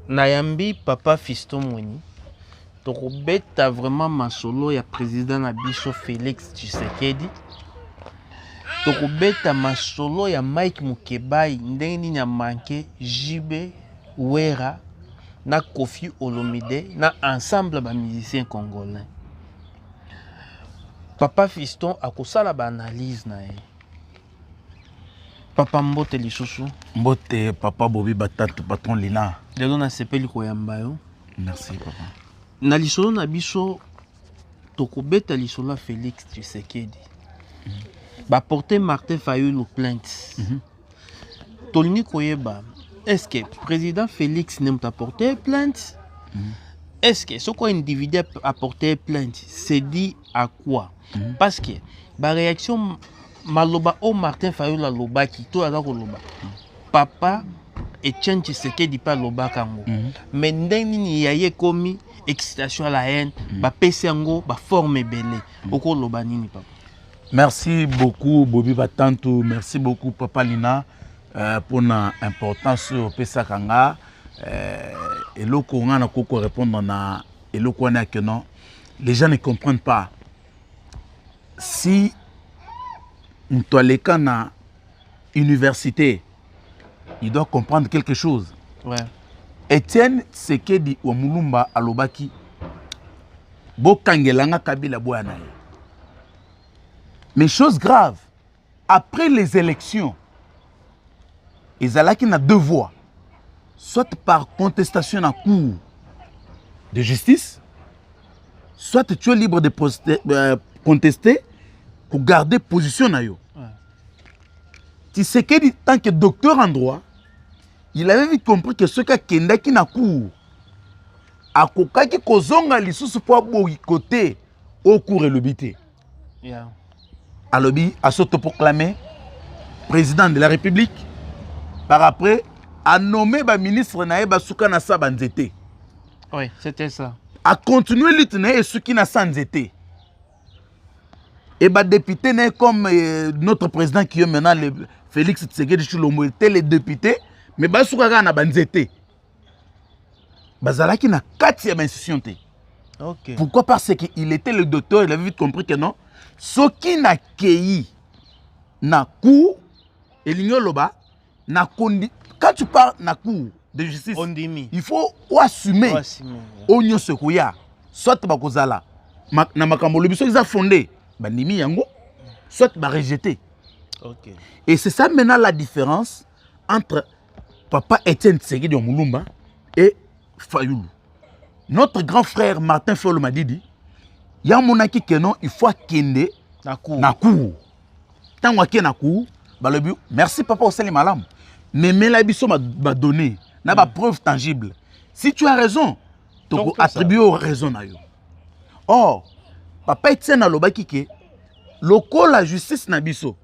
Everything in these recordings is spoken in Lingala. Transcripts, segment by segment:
nayambi papa fisto mweni tokobeta vraiment masolo ya président na biso félix tshisekedi tokobeta masolo ya mike mukebayi ndenge nini amanke jb wera na kofi olomide na ensemble bamusicien congolais papa fiston akosala baanalyse na ye papa mbote lisusu mbote papa bobi batatu patron lina lelo nasepeli koyamba yo merci papa na lisolo na biso tokobeta lisolo ya félix tshisekedi mm -hmm. baporte martin fayulu plainte mm -hmm. tolingi koyeba est ce que président félix ne moto aporte plainte mm -hmm. est ce que soko individu aporte plainte c'est dit à quoi mm -hmm. parce que baréaction maloba oyo martin fayulu alobaki to aza koloba papa etienne tshisekedi mpe alobaka yango mm. mais ndenge nini ya ye ekomi excitation ya la haine mm. bapesi yango baforme ebele mm. okoloba nini papa merci beaucoup bobi batantu merci beaucoup papa lina euh, mpona euh, importance oyo opesaka nga euh, eloko ngai nakoki korépondre na eloko wana yake non les gens ne comprennent pas si moto aleka na université il doit comprendre quelque chose ouais. etienne sekedi wa mulumba alobaki bokangelanga kabila boya na ye mais chose grave après les élections ezalaki na deux voies soit par contestation na cour de justice soit tu es libre de euh, contester kogarde position na yo tisekedi tant que docteur en droit il avait vite compris que soki akendaki na cour akokaki kozonga lisusu mpo aboyikote oyo cour elobi te yeah. alobi asotoproclame président de la république par après anome baministre na ye basuka na sa banzete oui, c'était ça acontinue lutte na ye esuki na sa nzete et badepute na ye comme euh, notre président qui est maintenant le, félix tsegedi chilombo ete le député mais basuka kaka na banzete bazalaki na kati ya bainstitution te okay. pourquoi parce que il était le docteur il avait vite compris que non soki nakei na cour elingi oloba na kondi quand tu pars na cour de justice Ondimi. il faut oassume oyo nyonso ekoya soit bakozala ma, na makambo olobi soki eza fonde bandimi yango soit barejete okay. et c'est ça maintenant la différence entre papa Etienne Tsegidi wa Mulumba et Fayulu. Notre grand frère Martin Fayulu Madidi, ya monaki que non, il faut akende na cour. Na cour. Tango ake na cour, balobi merci papa osali malamu. Memela biso ba, ba données na ba mm. preuves tangibles. Si tu as raison, toko attribuer au raison na yo. Or, papa Etienne alobaki que lokola justice na biso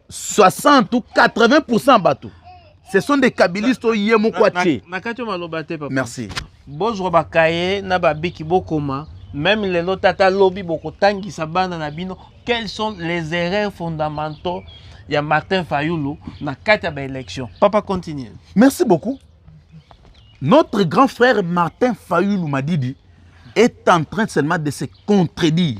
60 ou 80% ya bato ce sont des kabilistes oyo ye moko atie na kati oyo maloba te papa merci bozwa bakaye na babiki bokoma meme lelo tata alobi bokotangisa bana na bino quels sont les erreurs fondamentaux ya martin fayulu na kati ya baélection papa continue merci beaucoup notre grand frère martin fayulu madidi est en train seulement de se contredire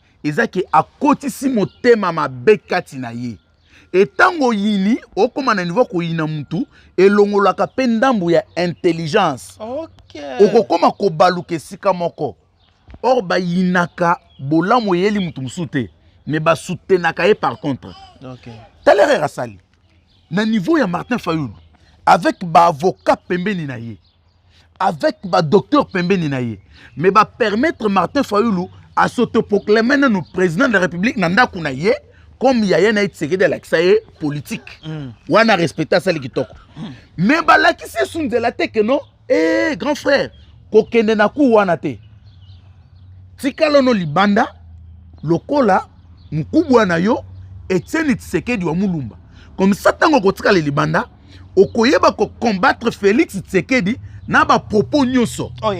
eza ke akotisi motema mabe kati na ye e ntango oyini okoma na niveau koyina motu elongolaka mpe ndambo ya intelligence okay. okokoma kobaluka esika moko or bayinaka bolamu eyeli motu mosusu te me basutenaka ye par contre okay. talerere asali na niveau ya martin fayulu avec baavocat pembeni na ye avec badocteur pembeni na ye mais bapermettre martin fayulu asautoproclame nanu président de la république na ndako na ye comme yaya na ye tisekedi alakisa ye politike mm. wana respecte asali kitoko mm. mais balakisi esu nzela te ke non ee grand frère kokende na cour wana te tikalono libanda lokola mkubwa na yo etieni tshisekedi wa mulumba komisa ntango okotikala libanda okoyeba kocombattre félix tshisekedi na bapropos nyonso oh,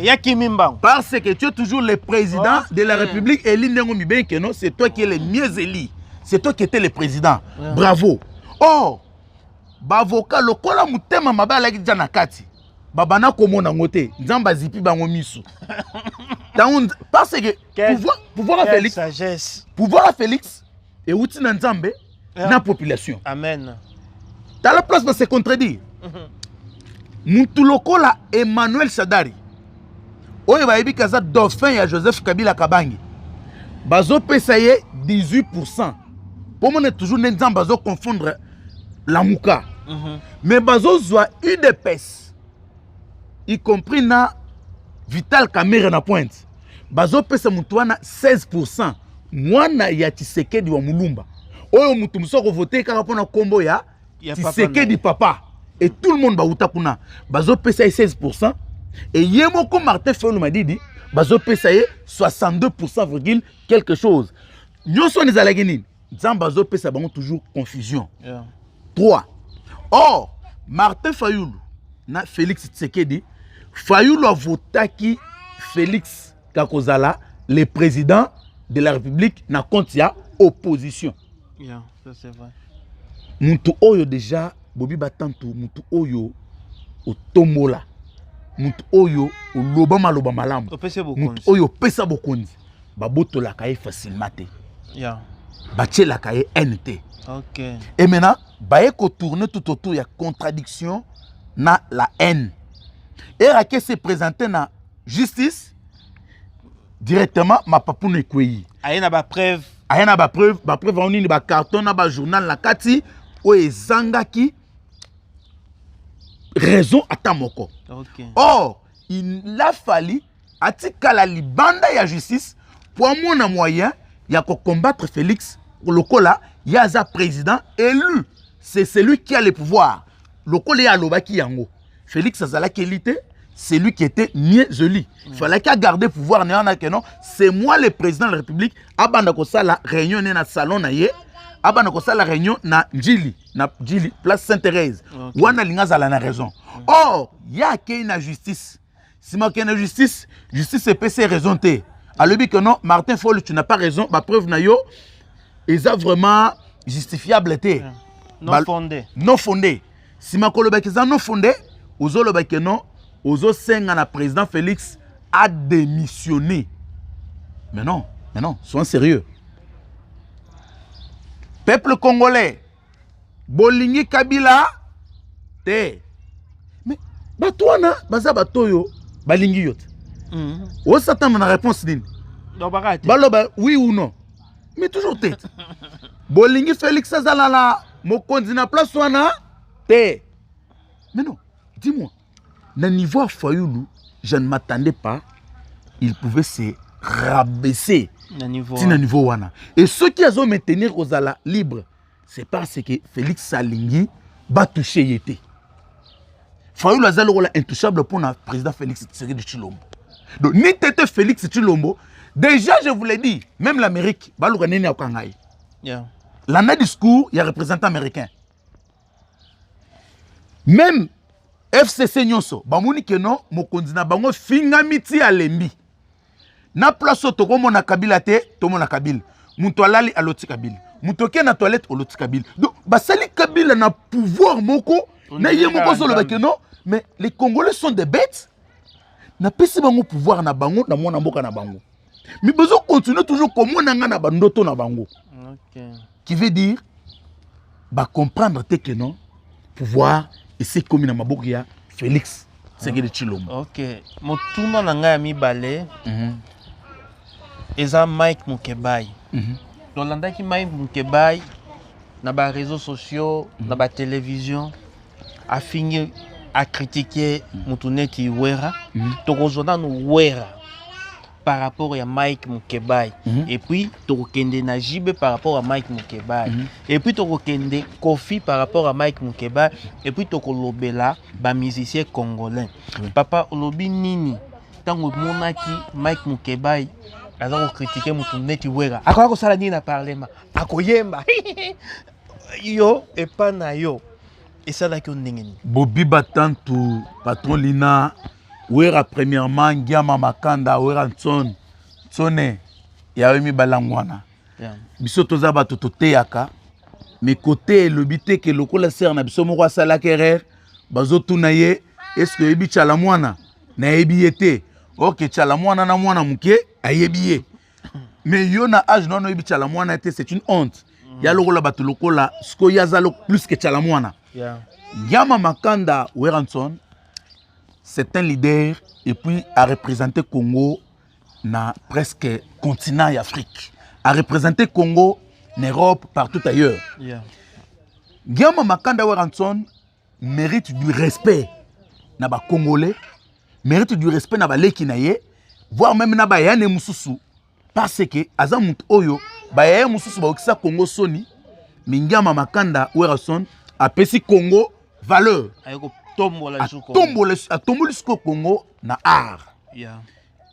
parce que tu es toujours le président oh, de la république eli ndenge mibei keno c'est toi qui est le mieux eli c'est toi qui était le président bravo or oh, bavoka lokola motema mabe alaki deja na kati babanda komona yango te nzambe azipi bango miso ntango parce que pouvoir ya félix pouvoir ya félix euti na nzambe yeah. na population amen tala place na se contredire mhm. mutu lokola emmanuel sadari oyo bayebi ke aza dauphin ya joseph kabila kabange bazopesa ye 18 pourcent mpo mona toujours nde nzambe azoconfondre lamuka mm -hmm. mais bazozwa udps y compris na vital kamere na pointe bazopesa moto wana 16 pourcent mwana ya tshisekedi wa mulumba oyo moto mosusu akovote kaka mpo na nkombo ya tisekedi papa et tout le monde bawuta kuna bazopesa ye 16 pourcent e ye moko martin fayulu madidi bazopesa ye 62 pourcent virgule quelque chose nyonso wana ezalaki nini nzambe azopesa bango toujours confusion yeah. 3 or martin fayulu na félix tshisekedi fayulu avotaki félix kakozala le président de la république na compte ya opposition yeah. mutu oyo deja bobi batantu mutu oyo otombola mutu oyo oloba maloba malamu mutu oyo opesa bokonzi babotolaka ye facilement te yeah. batielaka ye haine te okay. et maintenant baye kotourne tout autour ya contradiction na la haine erake se présente na justice directement mapapuna ekwei aye na bapreuve aya na bapreuve bapreuve yango nini bacarton na bajournal na kati oyo ezangaki raison ata moko okay. or il a fali atikala libanda ya justice mpo amona moyen ya kocombattre félix lokola ye aza président élu c'est celui qui a le pouvoir lokola ye alobaki yango Felix azalaki eli te c'est lui qui était mieux élu mm. falaki agarde pouvoir na wana ke non c'est moi le président de la république abanda kosala réunion ne na salon na ye abanda kosala réunion na njili na njili place saint thérèse okay. wana alingi azala na raison mm. or ye akei na justice sima kende na justice justice epesi ye raison te alobi que non martin fol tu n'as pas raison bapreuve na yo eza vraiment justifiable te yeah. non ba, fondé non fondé sima kolobaki eza non fondé ozoloba que non ozosenga na président félix a démissionné mais non mais non sois sérieux peuple congolais bolingi kabila te mais bato wana baza bato oyo balingi yo te mm. osatana na réponse nini baloba oui ou non mais toujours te bolingi félix azala na mokonzi na place wana te mais non dis-moi Na niveau ya Fayulu, je ne m'attendais pas, il pouvait se rabaisser na niveau, ti na niveau wana. Et ceux qui azo maintenir kozala libre, c'est parce que Félix alingi ba toucher ye te. Fayulu aza lokola intouchable mpo na président Félix Tshisekedi Tshilombo. Donc ni tete Félix Tshilombo, déjà je vous l'ai dit, même l'Amérique, baluka nini akanga ye. Yeah. Landa discours ya représentant américain. meme fcc nyonso bamoni keno mokonzi na bango efingami ti alembi na place oyo tokomona kabila te tomona kabila moto alali aloti kabila moto oke na toilette oloti kabila donc basali kabila na pouvoir moko na ye moko azoloba keno mais les congolais sont des bêtes napesi bango pouvoir na bango na mwana mboka na bango mais bozo continuer toujours komona nga na bandoto na bango okay. qui veut dire bacomprendre te que non pouvoir esi ekomi na maboko ya félix sekele tshilombo ok motuna na ngai ya mibale mm -hmm. eza mike mukebai mm -hmm. tolandaki mike mukebai na bareseau sociaux mm -hmm. na mhm. batelevizio afingi akritike motu neti wera mhm. tokozwa nanu wera par rapport ya mike mukebai mm -hmm. epuis tokokende na jibe par rapport ya mike mukebai mm -hmm. epuis tokokende kofi par rapport ya mike mukebai epuis tokolobela bamusicien congolais oui. papa olobi nini ntango omonaki mike mukebai aza kokritike motu neti wera akoya kosala nini na parlement akoyemba yo epa na yo esalaki yo ndenge nini bobiba tantu patron lina wera premièrement ngiama makanda wera nson nsone yayo mibalangwana yeah. biso toza bato toteyaka me kote elobi te ke lokola sere na biso moko asalaki erreur bazotuna ye eske oyebi cala mwana nayebi ye te orke cala mwana na mwana moke ayebi ye mais yo na age nono oyebi tshala mwana te c'est une honte mm. ya lokola bato lokola sikoyo ye aza plus que tshala mwana yeah. yama makanda weranson c'est un leader et puis a représenté congo na presque continent ya afrique a représenté congo na europe partout ailleurs yeah. yama makanda weranson mérite du respect na ba congolais mérite du respect na baleki na ye voire meme na bayane mosusu parce que aza moto oyo bayaye mosusu baokisa congo soni mingiama makanda werrason apesi congo valeur atombola sikoyo congo na art yeah.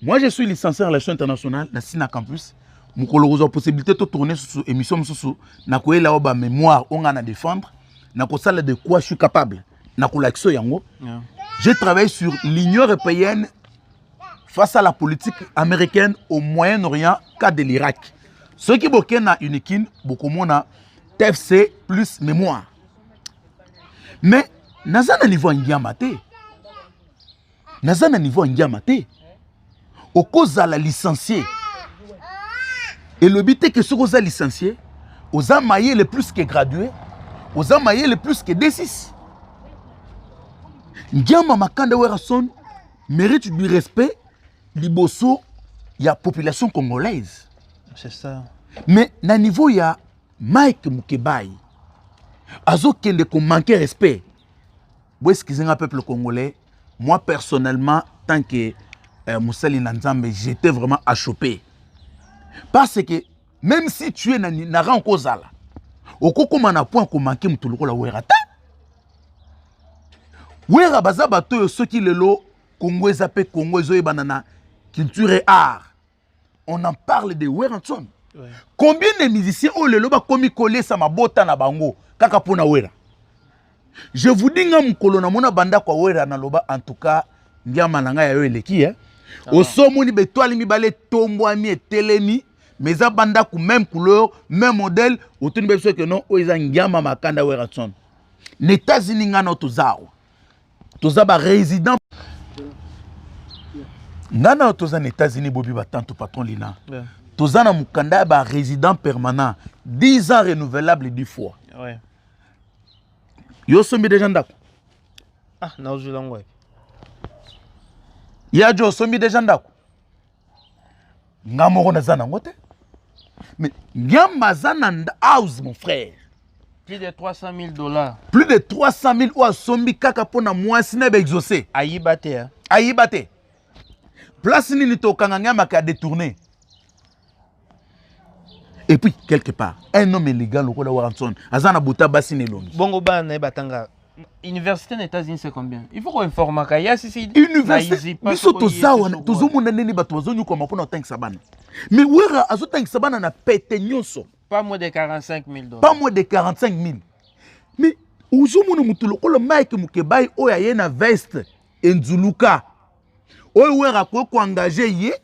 Moi, je suis licencié en relations internationales na Sina Campus. mokolo kozwa possibilité totourne susu émission mosusu nakoyela yo bamémoire oyo ngai na défendre nakosala de quoi je suis capable nakolakisa yango j'ai travaillé sur l'union européenne face à la politique américaine au moyen orient cas de l'irac soki bokei na unikin bokomona tfc plus mémoire mais naza na niveau ya ngiama te naza na niveau ya ngiama te okozala licencie elobi te ke soki oza licencie oza mayele plus que gradué oza mayele plus que d6 ngiama makanda werrason mérite du respect liboso ya population congolaise c'est ça mais na niveau ya mike mukebayi azokende komanke respect boeskize nga peuple congolais Moi personnellement tant que euh, mosali na Nzambe j'étais vraiment achoppé parce que même si tu es na, na rang kozala okokoma na point komanke moto lokola wera te wera baza bato oyo soki lelo kongo eza mpe kongo ezoyebana na culture et art on en parle de werrason ouais. combien de musiciens oyo lelo bakomi kolesa mabota na bango kaka mpo na wera je vous dis nga mokolo namona bandako ya wera naloba en tout cas ngiama na ngai ya yo eleki eh? osomoni betoile mibale etombwami etelemi mais eza bandako même couleur même modèle otuni bebisoko non oyo eza ngiama makanda werrason na états-unis ngai nao toza awa toza ba résident nga na toza na états-unis bobi batanto patron lina yeah. toza na mokanda ya ba résident permanent 10 ans renouvelable du fois ouais. yo osombi deja ndako ah, nazwi lango wapi ya jo osombi deja ndako nga moko naza nango te mais nyamba aza na house mon frère plus de 300 000 dollars plus de 300 000 oyo asombi kaka mpo na mwasi na ye baexauce ayiba te hein? ayiba te place nini tokanga nyamaka ya détourne et puis quelque part un homme élégant lokola Warrenson aza na buta basi na elongi bongo bana na ye batanga université na états-unis c'est combien il faut koinformaka ya sisi université biso toza wana tozomona ndenge bato bazonyokwama mpo na kotangisa bana mais wera azotangisa bana na pete nyonso pas moins de 45 000 dollars pas moins de 45 000 mais ozomona moto lokola mike mokebai oyo aye na veste enzuluka oyo wera akoki koengage ye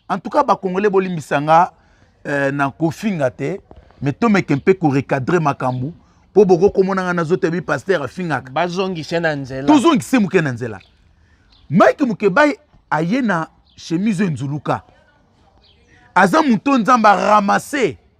en tout cas bacongolais bolimbisa nga euh, na kofinga te mais tomeke mpe korecadre makambo mpo bokoki komona ngai nazota bi paster afingaka bazongise na nzela tozongise moke na nzela mike mokebai aye na chemise enzuluka aza moto nzambe aramase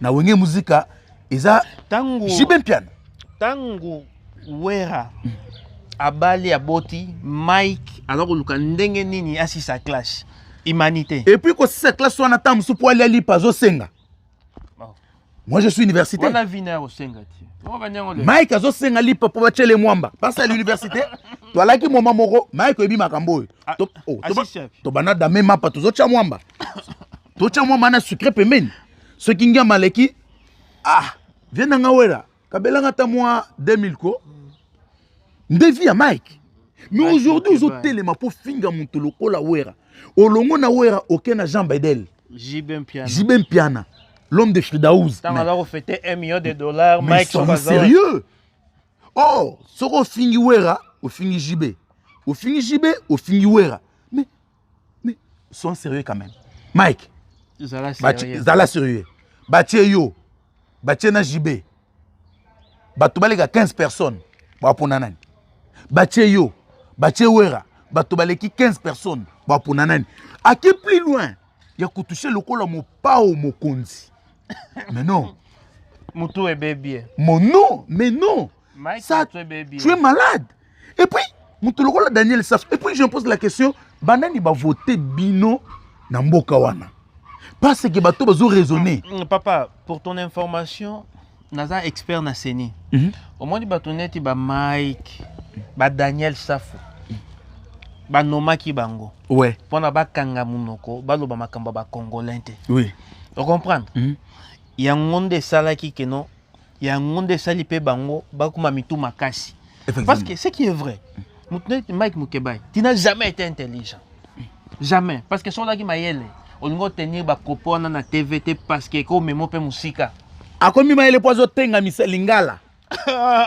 na wenge muzika eza tango jibe mpiana tango wera mm. abali aboti mike aza koluka ndenge nini asisa clash humanité et puis kosisa clash wana ntango mosusu mpo alia lipa azosenga oh. moi je suis université wana vina ya kosenga ti mike azosenga lipa mpo batyele mwamba basa ya l'université toalaki moma moko mike oyebi makambo oyo Ah, to, oh, ah, to, si, chef. to bana dame mapa tozotya mwamba totya mwamba na sucre pembeni soki ngiama aleki ah vie na nga wela kabelanga ata mwa 2000 ko nde vie ya mike mais aujourd'hui ozotelema mpo finga moto lokola wera olongo na wera oke na jean bedel jibe mpiana, jibe mpiana. l'homme de fridaouz ntango aza kofete 1 million de dollars mike sérieux oh soki ofingi wera ofingi jb ofingi jb ofingi wera mais mais sont sérieux quand même mike zala sérieux batie yo batie na jb bato baleka 15 personnes bapona nani batie yo batie wera bato baleki 15 personnes bapona nani ake plus loin ya kotuse lokola mopao mokonzi mais non motu ebebi eh. mon non mais non Mike ça tu es malade et puis motu lokola daniel sasso et puis je me pose la question banani bavote bino na mboka wana parce que bato bazo raisonner mm, mm, papa pour ton information naza expert na seni mhm. omoni bato neti ba mike ba daniel safu banomaki bango ouais. mpona bakanga monoko baloba makambo ya bacongolais te oui. ocomprendre mm -hmm. yango nde esalaki keno yango nde esali mpe bango bakoma mitu makasi parce que ce qui est vrai moto neti mike mukebayi tu n'as jamais été intelligent jamais parce que soki ozalaki mayele olingi otenir bakopo wana na tv te parce que ekomema mpe mosika akomi mayele mpo azotengamisa lingala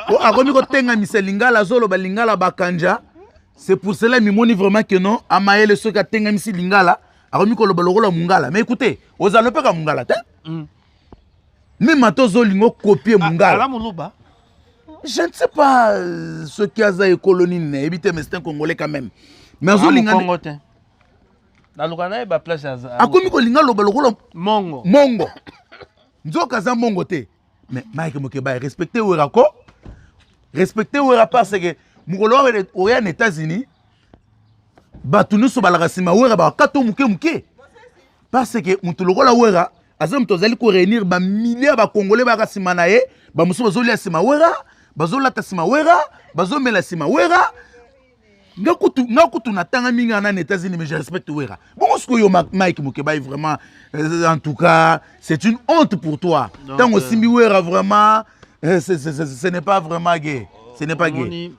po akomi kotengamisa lingala azoloba lingala bakanja c'est pour cela mimoni vraiment que non amayele soki atengamisi lingala akomi koloba lokola mungala mais ekute ozala mpe ka mungala te mm. meme ata ozolinga okopie mungala je ne sais pas euh, soki aza ekolo nini nayebi te mais c'est un congolais quand même mais azolinga akomi kolinga loba lokola mongo mongo nzoka aza mongo te mais mike mokeba respecte wera ko respecte wera parce que mokolo wana oya na états-unis bato nyonso balaka nsima wera bakata moke moke parce que moto lokola wera aza moto azali ko réunir ba milliers ba congolais baka sima na ye ba mosusu bazolia sima wera bazolata sima wera bazomela sima wera nga kutu nga kutu natanga mingi ana na états-unis mais je respecte wera bongo sikoyo mike mokebai vraiment euh, en tout cas c'est une honte pour toi ntango euh, osimbi wera vraiment euh, ce n'est pas vraiment gay ce n'est pas gay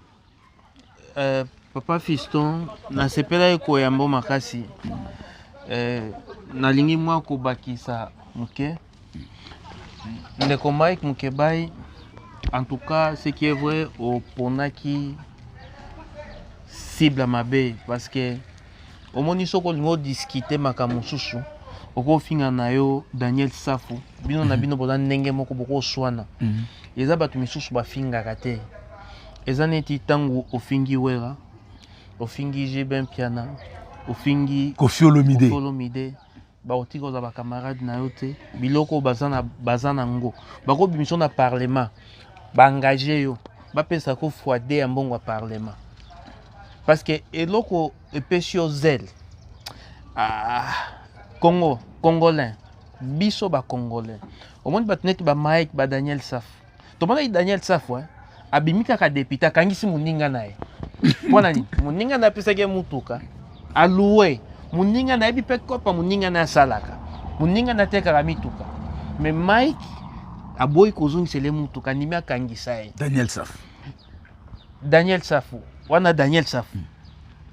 Euh, papa Fiston, nasepelaki koyamba yo makasi. Euh, nalingi mwa kobakisa moke. Ndeko Mike Mukebayi, en tout cas, ce qui est vrai, oponaki cible mabe parce que omoni soki olingi odiskite makambo mosusu okofinga na yo daniel safu bino na mhm. bino boza ndenge moko bokoswana mhm. eza bato misusu bafingaka te eza neti ntango ofingi wera ofingi jbin piana ofingi kofiolomide bakotika oza bacamarade na yo te biloko baza na ngo bakobimisa na parlement baengage yo bapesa ko foide ya mbongo ya parlement parce que eloko epesi yo zele ah, congo congolais biso bacongolais omoni bato neti bamike badaniel safu tomonaki daniel safu eh? abimi kaka depute akangisi moninga na ye mpo na nini moninga na apesaki ye motuka aloue moninga nayebi mpe kopa moninga na asalaka moninga na atekaka mituka me mike aboyi kozongisele motuka andimi akangisa ye daniel safu Daniel Safu wana Daniel Safu hmm.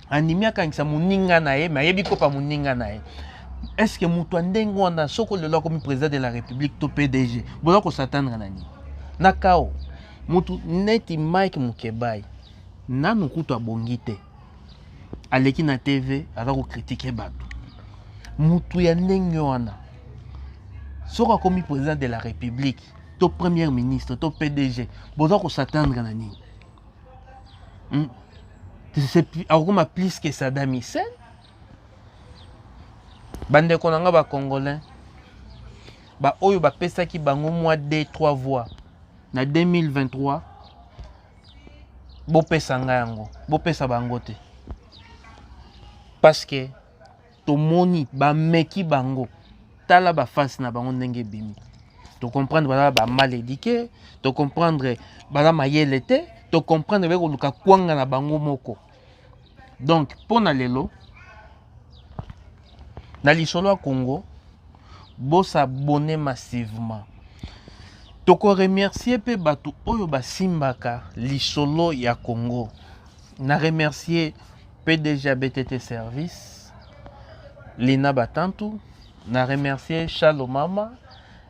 animi akangisa moninga na ye me ayebi kopa moninga na ye estce moto ya ndenge wana soko lelo akomi président de la république to pdg boza kosatandre na nini na kao moto neti mike mokebai nanu kutu abongi te aleki na tv aza kokritike bato moto ya ndenge wana soko akomi président de la république to première ministre to pdg boza kosatandre na nini hmm? akokoma plus que sadam hussein bandeko na nga bacongolais baoyo bapesaki bango mwa d 3 voix na 2023 bopesa nga yango bopesa bango te parce que tomoni bameki bango tala bafase na bango ndenge ebimi tocomprendre baza bamal édike tocomprendre baza mayele te tocomprendre baye koluka kwanga na bango moko donc mpo na lelo na lisolo ya congo bosabone massivement tokoremercie mpe bato oyo basimbaka lisolo ya congo na remercie PDG ya BTT Service, Lina Batantu, na remercier Shalo Mama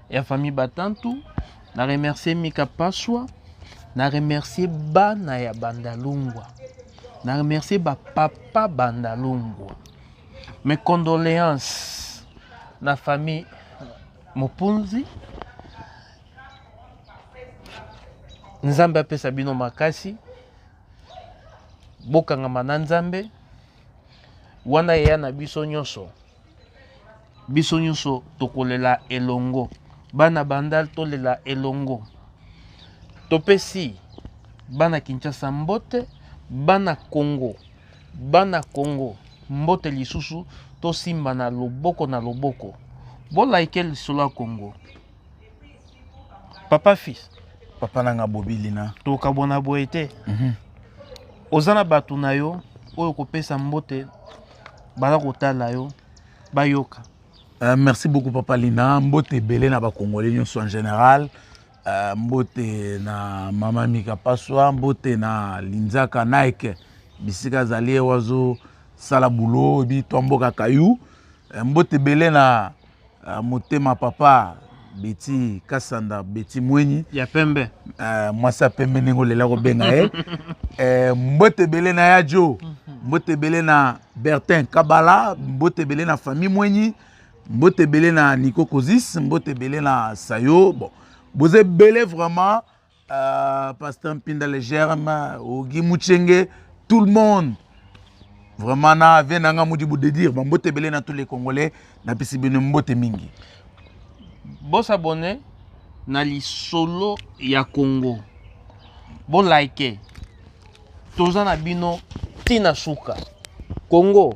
ya famille Batantu, na remercier Mika Paswa, na remercier bana ya Bandalungwa, na remercier ba papa Bandalungwa. Mes condoléances na famille Mopunzi. Nzambe apesa bino makasi. bokangama na nzambe wana eya na biso nyonso biso nyonso tokolela elongo bana bandal tolela elongo topesi bana kinshasa mbote bana congo bana congo mbote lisusu tosimbana loboko na loboko bolaike lisolo ya congo papa fils papa na nga bobi lina tokabwana boye te mhm. oza na bato na yo oyo kopesa mbote baza kotala yo bayoka Uh, merci beaucoup papa lina mbote ebele na bakongole nyonso en général uh, mbote na mama mika paswa mbote na linzaka nike bisika azali ye wazosala bulo oyebi twa mboka kayu uh, mbote ebele na Uh, motema papa beti kasanda beti mwenyi ya pembe uh, mwasi ya pembe ndenge olela kobenga ye uh, mbote ebele na ya jo mhm. mbote ebele na bertin kabala mbote ebele na famille mwenyi mbote ebele na nico cosis mbote ebele na sayo bon boza ebele vraiment Uh, pasteur Mpinda le germe, Ogi Mouchenge, tout le monde. Vraiment, na vie nanga mudi de dire, bon mbote belé na tous les Congolais, na pisi bino mbote mingi. Bon s'abonner na lisolo ya Congo. Bon like. Toza na bino tina suka. Congo